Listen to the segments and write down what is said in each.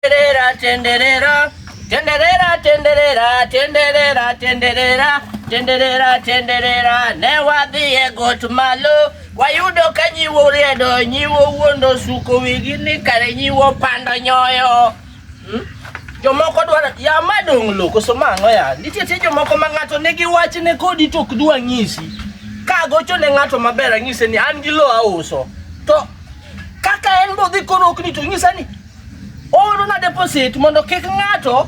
Tenderera, tenderera, tenderera, tenderera, tenderera, tenderera, tenderera, tenderera, ne wadhi e got malo wayudo ka nyiwo oriedo nyiwo wuondo suko wigi ni kare nyiwo pando nyoyo hmm? jomoko dwaro ya ma dong' lo koso mang'o ya nitie tie jomoko ma ng'ato nigi wach ne kodi to ok dwa ng'isi ka gocho ne ng'ato maber ang'ise ni an gi lo auso to kaka en bodhi koro ok ni to ng'isa ni Oorona deposit mondo kik ng'ato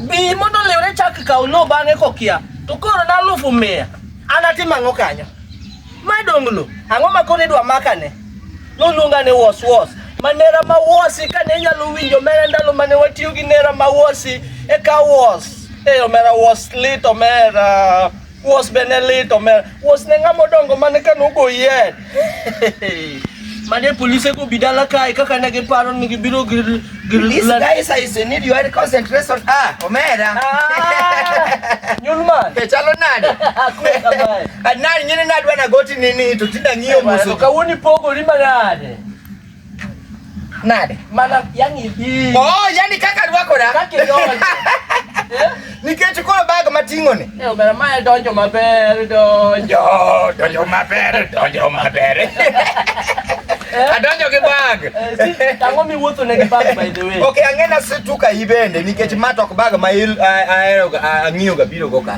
bi mondo liwre chak kaw lo bang'e kokia to koro na alufu mia an atim ang'o kanyo madong lo ang'o ma koro idwa makane noluonga ni was was ma nera ma wasi kane inyalo winjo mera ndalo mane watiyo gi nera ma wasi e ka was e omera was lit omera Wos be ne lit omera. Wos ne ng'ama odongo mane ka nogo yien. Mane polise go bi dala kae kaka ne giparo ni gibiro gir gir This la- guy says you need your concentration. Ah, omera. Ah, Nyulman. Ke chalo nade? Akwe kamae. Anani nyini nadwa na goti nini to tinda ng'iyo Kamano, musu. Kawuono ipogori manade. Nade? Mana yani hii. Oh, yani kaka rwako na. Kaka yoni. Eh? Nikech koro bag mating'o ni. Eh, obera mae donjo maber, donjo. Donjo maber, donjo maber. Eh? Adonjo gi bag. Eh, Tango mi wuotho ne gi bag by the way. Okay, ang'ena situka ibende nikech matok bag ma ahero ang'iyo ga biro go ka.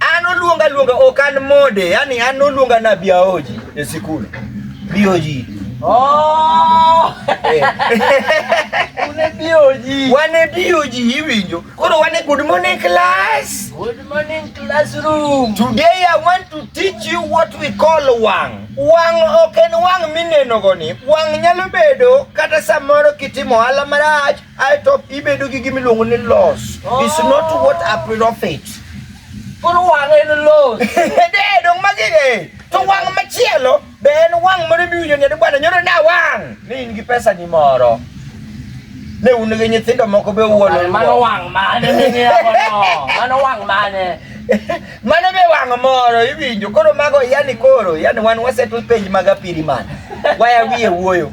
An oluonga luonga ok an mode, yani an oluonga na biaoji e sikul. Biaoji. Oh! Eh. Une biaoji. Wane biaoji iwinjo. Koro wane good morning class. Good morning classroom. Today I want to teach you what we call wang. Wang ok en wang mineno goni. Wang nyalo bedo kata samoro kitimo ohala marach ae to ibedo gi gima iluongo ni loss is not what a profit koro wang' en loss de dong magi de to wang' machielo be en wang' moro miwinjo ni bwana nyoro na wang' ni in gi pesa ni moro ne un gi nyithindo moko be wuolo mano wang' mane mano wang' mane mano be wang' moro iwinjo koro mago yani koro yani wan wasetwe penj mag apiri mana waya wiye wuoyo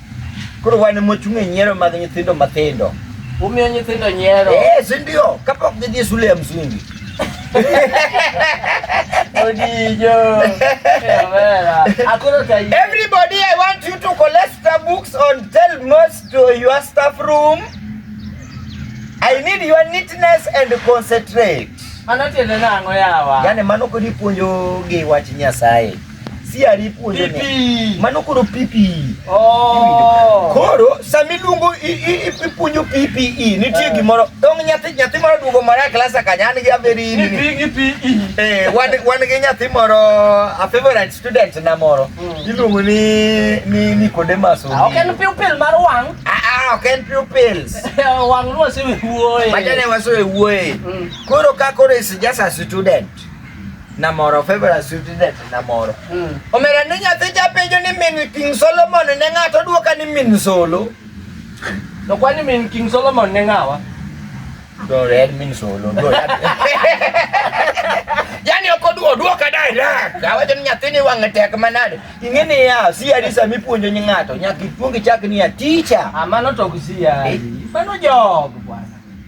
Koro wan ema wachung' e nyiero mag nyithindo matindo. Umiyo nyithindo nyiero. Eh, si ndio? Kapok gidhi e shule ya msingi. Odijo. Kamera. Akoro tayi. Everybody, I want you to collect the books on tell most to your staff room. I need your neatness and concentrate. Mano tiende nang'o yawa? Yaani mano kodi puonjo gi wach Nyasaye. siari puonjo ne mano koro pipi oh. koro sami luongo ipuonjo pipi e, nitie eh. gimoro dong nyathi nyathi moro duogo moro e klasa kanya an gi aberi ni eh wan wan gi nyathi moro a favorite student na moro hmm. iluongo ni ni Nicodemus ah, ok en pupil mar wang ah, ah ok en pupils wang ruosi wuoye majane waso e wuoye hmm. koro ka koro is just a student namoro favorite student namoro mm. omera ni nyathi japenjo ni min king solomon ne ng'ato dwoka ni min solo to kwani min king solomon ne ng'awa do red min solo do yani ok oduo duoka direct awacho ni nyathini wang'e tek manade ing'e ni ya siari sama ipuonjo nyi ng'ato nyaka ipuongi chak ni ya ticha amano ah, to ok siari eh. mano jog bwana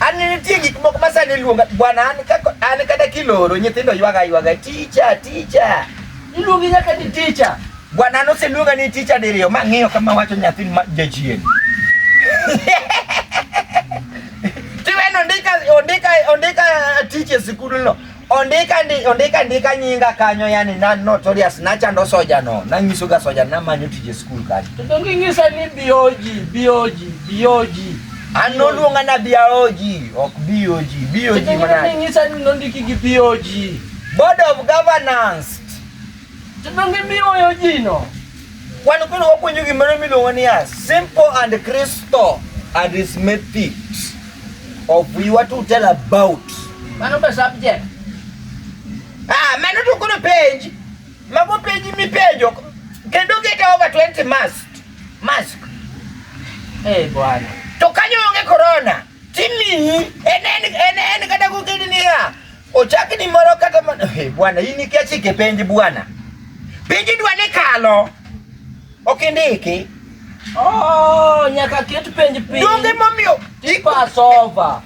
An nitie gik moko ma sani luonga bwana an kaka an kata kiloro nyithindo ywaga ywaga ticha ticha. Iluongi nyaka ni ticha. Bwana an oseluonga ni ticha diriyo ma ng'iyo kama wacho nyathi ma jachien. Tiweno ondika ondika ondika tich e sikul no. Ondika ndi, ondika ndika nyinga kanyo yani na notorious na chando soja no. Na nyiso ga soja na manyo tije school kanyo. To ngingisa ni bioji, bioji, bioji. Ano luonga na bioji, ok bioji, bioji mana. Tete ngi ngisa ni nondiki gi bioji. Board of Governance. Tete ngi bioji no. Wan kuno wapuonjo gimoro miluongo niya simple and crystal arithmetic. of you want to tell about mano be subject ah mano to kono page mago page mi pejo kendo get over 20 mask mask eh bwana to kanyo onge corona timi en en en en kata ko kidi ni ya ochaki ni moro kata eh bwana hii ni kiasi kipenji bwana penji dwa ni kalo Ok indiki. Oh, nyaka ket penj piny. Donge momiyo pass over.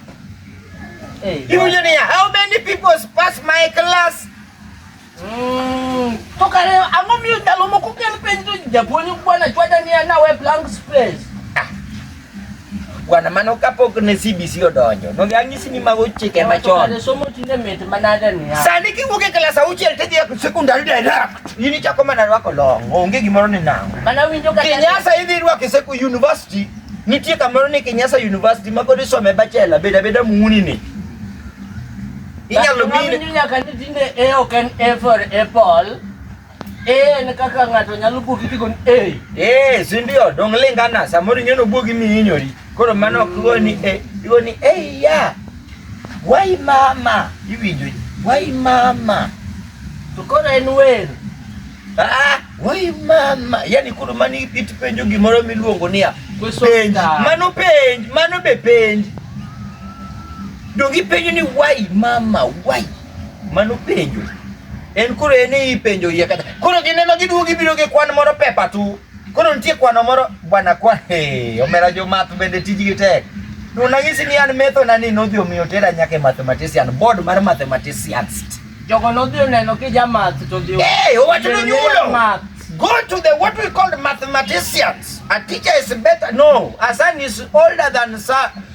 Hey, Iwinjo niya, how many people pass my class? Mm. To kare ang'o miyo ndalo moko kel penj to japuonj bwana chwada niya nawe blank space. Bwana mano kapok ne CBC odonjo. Donge ang'isi ni mago chike machon. Kare somo tinde mit manade ni. Sani kiwuok e klas auchiel tidhi e sekondari direct. In ichako mana rwako long. Onge gimoro ni nang'. Mana winjo kata Kinyasa idhi rwako e seku university. Nitie kamoro ni Kinyasa University ma pod isome bachelor beda beda muni ni. Inyalo Ng'ama mine winjo nyaka ni tinde e ok en A for apple. Eh, en kaka ng'ato nyalo buogi kigo ni eh. Eh, si ndio dong lingana samoro ing'eno buogi mi hinyori. Koro mano ok igo ni eh, igo ni eh ya. Wai mama, iwinjo ji. Wai mama. To koro en wer. Ah, wai mama. Yaani koro mano ipit penjo gimoro miluongo niya. Penj. Mano penj, mano be penj. Dongi penjo ni wai mama, wai. Mano penjo. En koro en e ipenjo iye kata. Koro gineno giduogo gibiro gi kwan moro pepa tu. Koro nitie kwano moro bwana kwa hey, omera jo math bende tijgi tek. Nunanyisi ni an metho na ni nodhi omiyo tera nyaka e mathematician, board mar mathematicians. Jogo nodhi oneno kija math to dhi. Hey, owacho ni nyulo. Math. Go to the what we call mathematicians. A teacher is better. No, a son is older than son.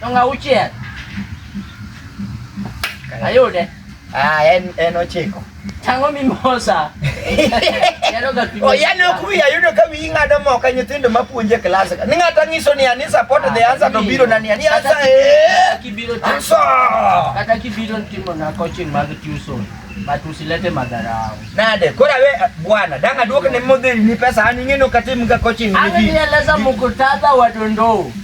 Dong auchiel. Ayude. Ah, en en ochiko. Tango mimosa. Oh, yani ok wiya yudo ka wiyi ng'ado moka nyithindo mapuonje klas ka. Ni ng'ato nyiso ni ani support the answer to biro na ni ani answer eh. Kibiro answer. Kata kibiro timo na coaching mag tuition. But usilete madharau. Nade, kora we bwana, danga duoke ni modhi ni pesa ani ng'eno katim ga coaching ni. Ani eleza mkutadha wa Dondoo.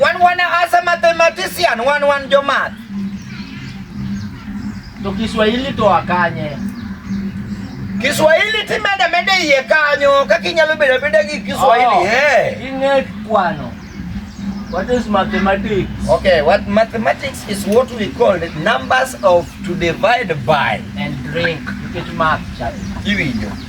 Wan wan as a mathematician, wan wan jo math. To Kiswahili to akanye. Kiswahili timeda mede iye kanyo kaka inyalo bedo abeda gi Kiswahili. Oh, eh. Ing'e kwano. What is mathematics? Okay, what mathematics is what we call the numbers of to divide by and drink. You get math, Charlie. Iwinjo.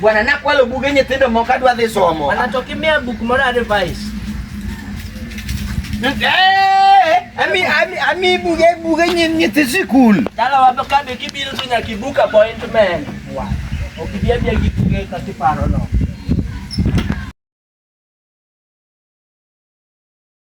Bwana nakwalo buge nyithindo moko adwa dhi somo. Bwana to kimia buk moro advice. Eh, ami ami ami buge buge nyithi sikul. Dala wapo kabe kibiro to nyaka ibuk appointment. Wa. Okibia bia gi buge ka kiparo no.